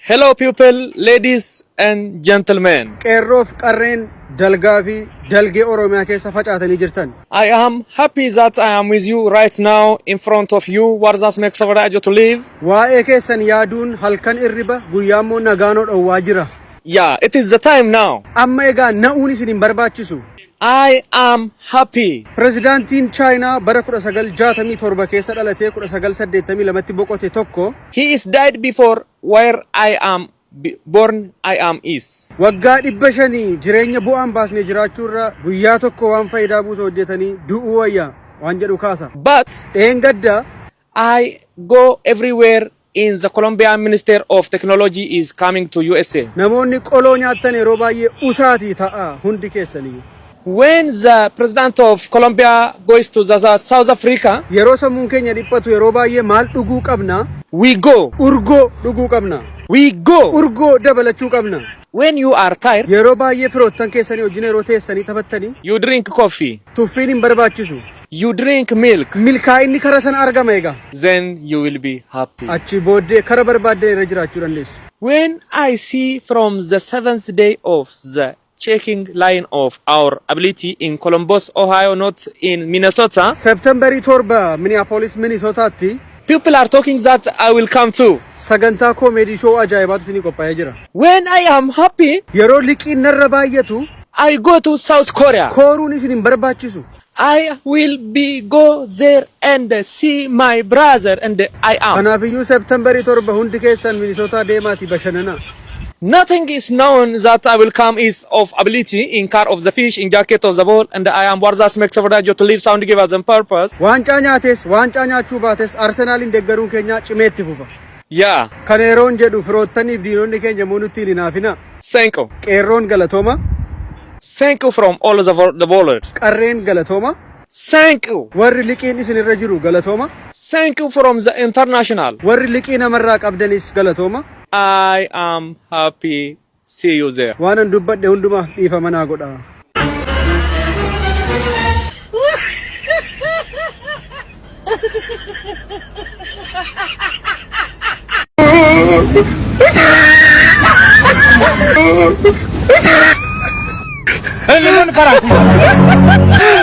Hello pupil, ladies and gentlemen. Qeerroof qarreen dalgaa fi dalgee Oromiyaa keessa facaatanii jirtan. I am happy that I am with you right now in front of you what that makes our Rajo to live. Waa'ee keessan yaaduun halkan irriba guyyaa immoo nagaanoo dhowwaa jira. Yeah, it is the time now. Amma egaa na'uun isin hin barbaachisu. I am happy. Pirezidaantiin Chaayinaa bara 1967 keessa dhalatee 1982tti boqote tokko. He is died before where I am born I am is. Waggaa 500 jireenya bu'aa hin baasne jiraachuu irra guyyaa tokko waan fayidaa buusu hojjetanii du'uu wayya waan jedhu kaasa. But. Dheengadda I go everywhere in the Colombian minister of technology is coming to USA. Namoonni qoloo nyaattan yeroo baay'ee usaatii ta'aa hundi keessaniyyuu. When the president of Colombia goes to the South Africa, Yeroo sammuun keenya dhiphatu yeroo baay'ee maal dhuguu qabna? we go, Urgoo dhuguu qabna. we go. Urgoo dabalachuu qabna. When you are tired, Yeroo baay'ee firoottan keessanii wajjin yeroo teessanii taphattanii you drink coffee. tuffiin hin barbaachisu. You drink milk. Milkaa'inni kara sana argama egaa. Then you will be happy. Achii booddee kara barbaaddan irra jiraachuu dandeessu. When I see from the seventh day of the checking line of our ability in Columbus, Ohio, not in Minnesota. September 7 Minneapolis, Minnesota tti. People are talking that I will come too. Sagantaa koomeedii show ajaa'ibaatu isinii qophaa'ee jira. When I am happy. Yeroo liqiin narra baay'atu. I go to South Korea. Kooruun isin hin barbaachisu. I will be go there and see my brother and I am. Kanaafiyyuu September 7 hundi keessan Minnesota deemaatii bashananaa. Nothing is known that I will come is of ability in car of the fish in jacket of the ball and I am worth as makes for that to live sound give us a purpose. Waancaa nyaates, waancaa nyaachuu baates Arsenaalin deggaruun keenyaa cimee itti fufa. Yaa. Kana yeroon jedhu firoottaniif diinonni keenya immoo nutti hin hinaafinaa. Thank u. Qeerroon galatoomaa. Thank u from all the for the bollard. Qarreen galatoomaa. Thank u. Warri liqiin isin irra jiru galatoomaa. Thank u from the international. Warri liqii namarraa qabdanis galatoomaa. I am happy See you there. Waanan dubbadhe hundumaaf dhiifama naa godhaa. Hey,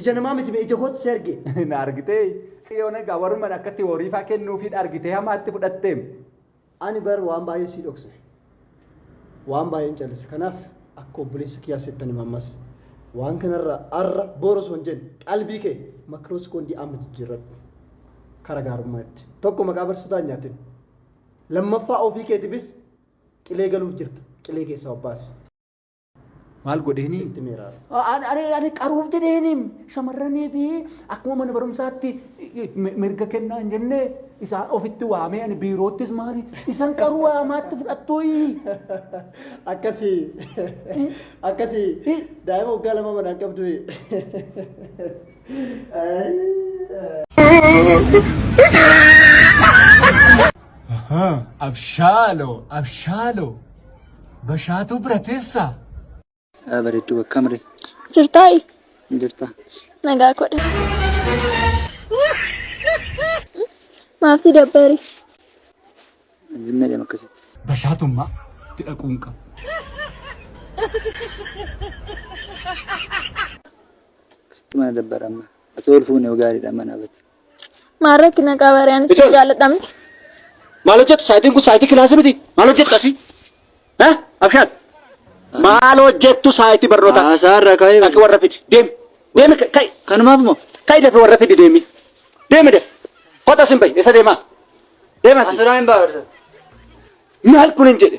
Ija namaa miti mee ija kootu si arge. Na argitee? Yoona egaa warumman akka tiwoorii faa kennuufiin argitee hamaatti fudhatteem. Ani bar waan baay'ee sii dhokse. Waan baay'een callise. Kanaaf akka obboleessa kiyyaa settan hima ammas. Waan kanarra arra boru osoo hin jenne qalbii kee makiroo sekoondii amma jijjiirradhu. Kara gaarummaa itti. Tokko maqaa barsiisotaa hin nyaatin. Lammaffaa ofii keetifis qilee galuuf jirta. Qilee keessaa of baasi. Maal godheeni? Sitti meeraaf. Ani ani ani qaruuf jedheeni shamarranii fi akkuma mana barumsaatti mi- mirga kennaa hin jenne isaan ofitti waamee ani biiroottis maali isan qaruu waamaatti fudhattuuyi. Akkasii akkasii Eh. daa'ima waggaa lama manaan qabdu. Abshaaloo, abshaaloo. Bashaatuu bira teessaa? Yaa bareedduu bakka mire. Jirtaayi? Jirta. Nagaa kodha. Maaf si dabbari? Zimma deema akkasitti. Bashaatummaa itti dhaquun qaba. Akkasitti mana dabbara amma. Ati ol fuune yoo gaariidha mana abati. Maal rakkina qaba ree anis Ijoollee. jaalladhamne. Maal hojjettu saayitiin kun saayitii kilaasii miti. Maal hojjettu asii? Ha? Abshaad. Maal hojjettu saayitii barnootaa? Haasaarra ka'ee Dhaqi warra fidi. Deemi. Deemi ka- ka'i. kanumaaf moo Ka'i dafii warra fidi deemi. Deemi daf. Kota sin bahi. Isa deemaa. Deema. asirraa hin baarsa. Maal kun hin jedhe.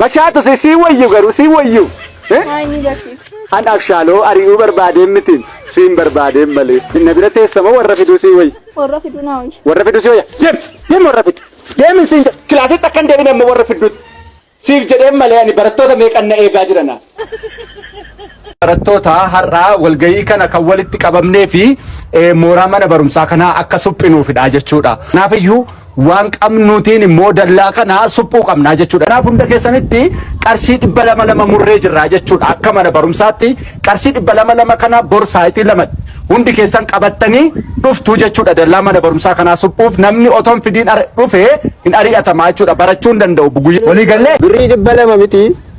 Bachaatu si si wayyu garuu si wayyu. Eh? Maa inni barsiisa. An abshaaloo ari'uu barbaadeen mitiin siin barbaadeen malee. Inna bira teessama warra fiduu si wayyu. Warra fiduu naa wayya. Warra fiduu si wayya. Deem deem warra fidu. Deemin siin jedha. Kilaasitti akka hin deebine amma warra fiduutti. Siif jedheen malee ani barattoota meeqan na eegaa jirana. Barattoota har'a walgahii kana kan walitti qabamnee fi mooraa mana barumsaa kanaa akka suphinuufidha jechuudha. Kanaaf iyyuu waan qabnuutiin immoo dallaa kana suphuu qabnaa jechuudha. Kanaaf hunda keessanitti qarshii dhibba lama lama murree jirraa jechuudha. Akka mana barumsaatti qarshii dhibba lama lama kana bor saayitii lama hundi keessan qabattanii dhuftuu jechuudha. Dallaa mana barumsaa kanaa suphuuf namni otoo hin fidiin dhufee hin ari'atamaa jechuudha. Barachuu hin danda'u. Walii gallee. Birrii dhibba lama miti.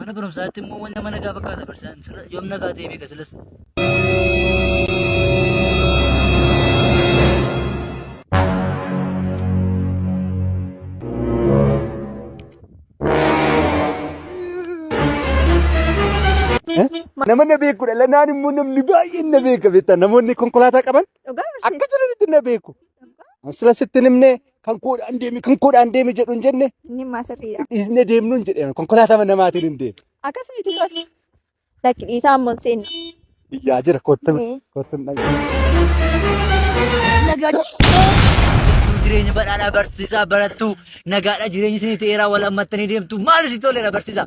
Mana barumsaatti immoo wanta mana gaa fakkaata barsiisaan sila yoom nagaa ta'ee beeka silas. Nama na beekudha. Lanaan immoo namni baay'een na beeka beektaa. Namoonni konkolaataa qaban Dhugaa barsiisa. Akka jiranitti na beeku. Sila sitti hin himne kan koodhaan deemi kan koodhaan deemi jedhu hin jenne Inni maa sirriidha. dhiisne deemnu hin jedhe konkolaataa namaatiin hin deemu. Akkas miti tole. Lakki dhiisaa ammoo hin seenna. Iyyaa jira kottu kottu hin dhaga'u. Nagaa jirtuu jireenya badhaadhaa barsiisaa barattuu nagaadha jireenyi isin ta'eeraa wal hammattanii deemtu maal isin toleera barsiisaa.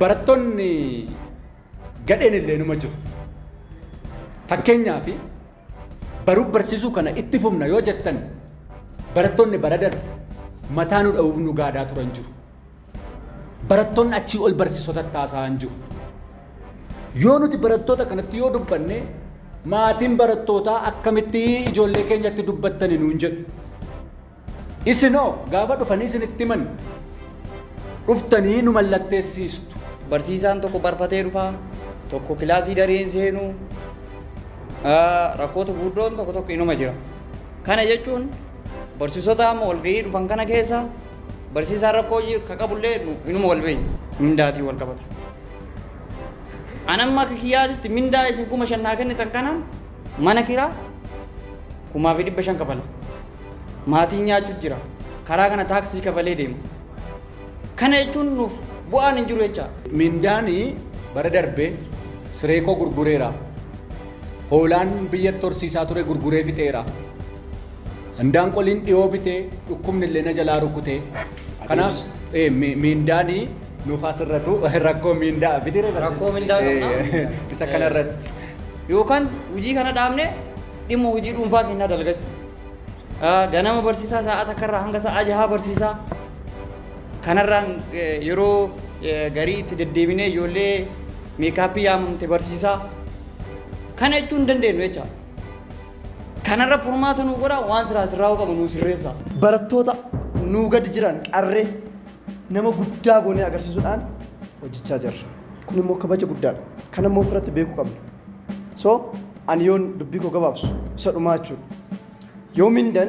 Barattoonni gadheen illee numa jiru. Fakkeenyaaf baruuf barsiisuu kana itti fufna yoo jettan barattoonni bara darbe mataa nu dha'uuf nu gaadaa turan jiru. Barattoonni achii ol barsiisota taasaan jiru. Yoo nuti barattoota kanatti yoo dubbanne maatiin barattootaa akkamitti ijoollee keenyatti dubbattani nuun jedhu. Isin hoo gaafa dhufanii isinitti himan dhuftanii nu mallatteessiistu. Barsiisaan tokko barfatee dhufa, tokko kilaasii daree hin seenu, rakkoota gurguddoon tokko tokko inuma jira. Kana jechuun barsiisota amma walgahii dhufan kana keessa barsiisaan rakkoo ka qabullee inuma wal beekna. Mindaatiin wal qabata. An amma akka kiyyaatitti mindaa isin kuma shan naa kennitan kanaan mana kiraa kumaa fi dhibba shan kafala. Maatiin nyaachu jira. Karaa kana taaksii kafalee deema. Kana jechuun nuuf bu'aan hin jiru jechaa? Mindaan bara darbe siree koo gurgureera. Hoolaan biyyatti horsiisaa ture gurguree fixeera. Indaanqoliin dhiyoo bite dhukkubni illee na jalaa rukute. Kanaaf mindaan nuuf haa sirratu rakkoo mindaa biti Rakkoo mindaa qabna. isa kanarratti. Yookaan hojii kana dhaabnee dhimma hojii dhuunfaa keenyaa dalagachuu. Ganama barsiisaa sa'aa takkarraa hanga sa'aa jahaa barsiisaa. Kanarraan yeroo garii itti deddeebinee ijoollee meekaappii yaamamte barsiisaa. Kana jechuu hin dandeenyu jecha. Kanarra furmaata nuu godhaa waan siraa sirraa'uu qabu nuu sirreessaa. Barattoota nuu gadi jiran qarree nama guddaa goonee agarsiisuudhaan hojjechaa jirra. Kun immoo kabaja guddaadha. Kana immoo ofirratti beekuu qabna. So Ani yoon dubbii koo gabaabsu isa dhumaa jechuudha. Yoo mindan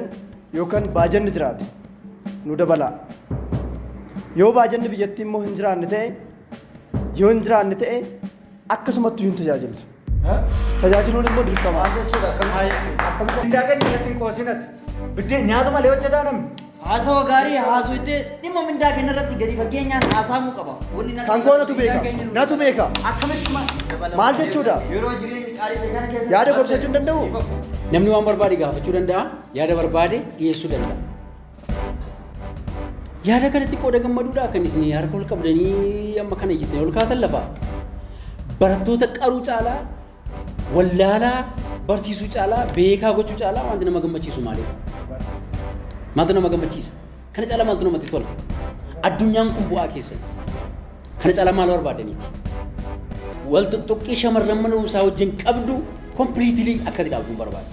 yookan baajanni jiraate nu dabalaa. Yoo baajanni biyyattii immoo hin jiraanne ta'e yoo hin jiraanne ta'e akkasumatti hin tajaajilla. Tajaajiluun immoo dirqama. Mindaa keenya irratti hin qoosinati. Biddeen nyaatu malee hojjetaa namni. Haasawa gaarii haasoytee dhimma mindaa keenya irratti gadi fageenyaan haasaamuu qaba. Wanni natti Kan koo natu beeka. mindaa keenya nu- Natu beeka. Akkamitti ma- dabalama? Maal jechuudha? Yeroo jireenyi qaalii ta'e kana keessa- Yaada gorfachuu hin danda'u? Namni waan barbaade gaafachuu danda'a, yaada barbaade dhiyeessuu danda'a. Yaada kanatti qooda gammaduudhaa kan isin harka ol qabdanii amma kana iyyitanii ol kaatan lafa. Barattoota qaruu caalaa Wallaalaa barsiisuu caalaa beekaa gochuu caalaa wanti nama gammachiisu maalidha? Maaltu nama gammachiisa? Kana caalaa maaltu namatti tola? Addunyaan kun bu'aa keessan. Kana caalaa maal barbaadaniiti? Wal tuttuqqii shamarran mana barumsaa wajjin qabdu kompiliitilii akkati dhaabduun barbaada.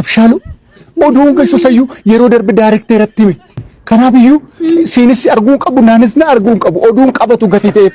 Abshaaluu oduu galchuu sayyuu yeroo darbe daarektee irratti hime. Kanaaf iyyuu siinis arguun qabu naanis na arguun qabu oduun qabatu gatii ta'eef.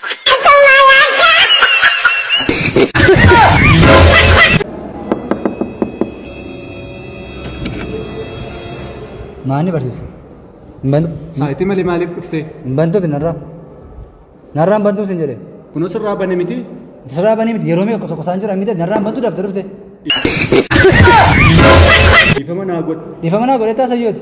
Maani barsiisa? Saayitii malee maaliif dhuftee? Bantuuti narraa. Narraan bantuu sin jedhe. Kunoo sirraa bane miti. Sirraa banii miti yeroo meeqa tokko isaan jira miti narraan bantuu dafte dhufte. Dhiifama naa godhi. Dhiifama naa godhe taasayyoote.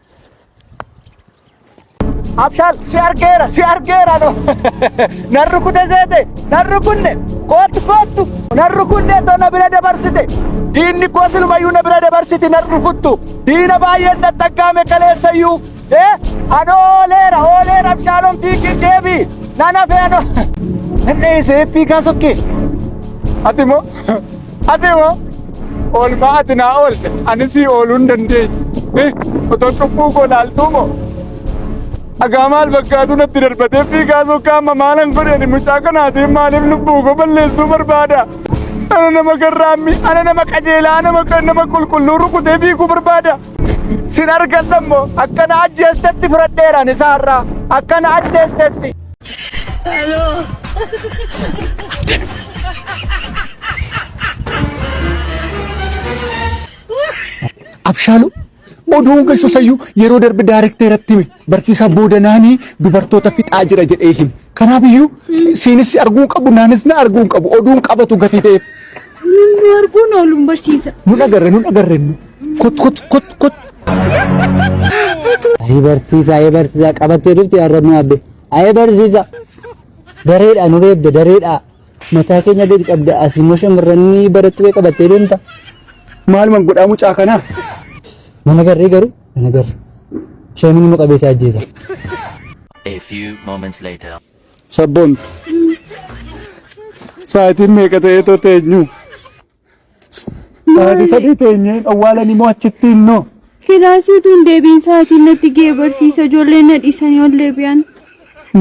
Abshaal si argeera si argeera no nan rukute seete nan rukunne koottu koottu nan rukunne too na bira dabarsite diinni koo silumayyuu na bira dabarsiti nan rukuttu diina baay'een na xaggaame kaleessayyuu ee ano ooleera ooleera abshaalon fiigii deebi nan hafe ano inni isee fiigaa sokkee ati moo Ati hoo oolmaa ati naa oolte ani sii ooluu hin dandeenye. Otoo cubbuu koo laaltuu moo dhagaa maal fakkaatu natti darbatee fiigaa sokkaa amma maalan godheeni mucaa kanaatiin maaliif lubbuu koo balleessuu barbaada. Ana nama garraammi, ana nama qajeelaa, nama nama qulqulluu rukutee fiiguu barbaada. Sin argadha immoo akkana ajjeestetti fudhadheeraan isaa irraa akkana ajjeestetti. Hello. Abshaalu oduu galchu sayyuu yeroo darbe daarektee irratti hime barsiisaa boodanaanii dubartoota fixaa jira jedhee hime. Kanaaf iyyuu siinis arguun qabu naanis na arguun qabu oduun qabatu gatii ta'eef. Namni arguun ooluun barsiisa. Nun agarre nun agarre nu. Kot kot kot kot. Ayii barsiisa ayii barsiisa qabattee dhufte har'a nu abbe. Ayii barsiisa. Dareedha nu reebde dareedha. Mataa keenya gadi qabda as immoo shamarranni barattuu kee qabattee deemta. Maaluman godhaa mucaa kanaa. Mana garree garuu mana garre. Shamiin immoo qabeessa ajjeesa. A few moments later. Sabboon sa'aatiin meeqa ta'ee too teenyu? Sa'aatii sadii teenyee awwaalan immoo achitti innoo. Filaasii utuu hin deebiin sa'aatiin natti ga'e barsiisa ijoollee na dhiisanii ol deebi'an.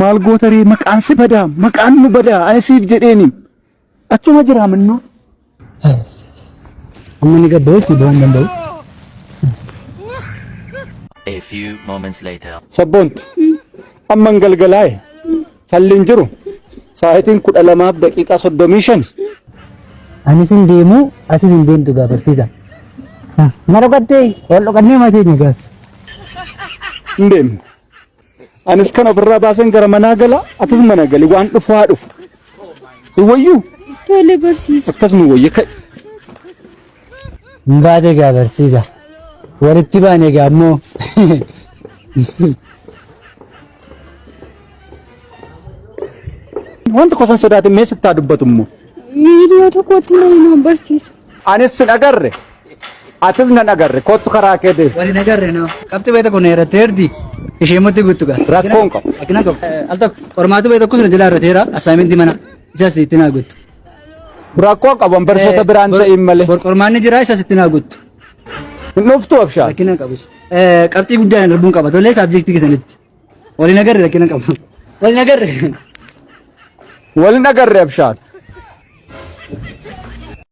Maal goota ree maqaan si badaa maqaan nu badaa ani siif jedheeni. Achuma jira mannoo. Amma ni gabba'u itti ba'uu hin danda'u. A few moments later. Sabboontu amman galgalaa'e falli hin jiru sa'aatiin kudha lamaaf daqiiqaa soddomii shan Anis hin deemu atis hin deemtu gaa barsiisa. Na dhokattee wal dhokannee matii ni gaas. hin deemne. Anis kan ofirraa baasen gara manaa gala atis mana gali waan dhufu haa dhufu. Hin wayyu Tole barsiisa. akkasuma wayya ka'e. Hin baate egaa barsiisa. Walitti baane egaa ammoo. Waan tokko san sodaate mee sittaa dubbatu immoo. Miidiyoo tokkotti nama barsiisa. Anis sin agarre. Atis nan agarre. Kottu karaa kee deemu. Waliin agarre noo. Qabxii beekta kun irratti heerti. Ishee immoo itti guutu gaa. Rakkoon qabu. Akkina qabu. Al tokko qormaata beekta kun jala irratti heera. Assaayimentii mana. Isas itti naa guutu. Rakkoon qabu barsiisota biraan ta'in malee. Qormaanni jira isas itti naa guutu. Hin dhuftu abshaa. Rakkina hin qabu. Qabxii guddaa hin darbuun qaba. Tollee saabjektii keessanitti. Waliin agarre rakkina hin qabu. Waliin agarre. Waliin agarre abshaa.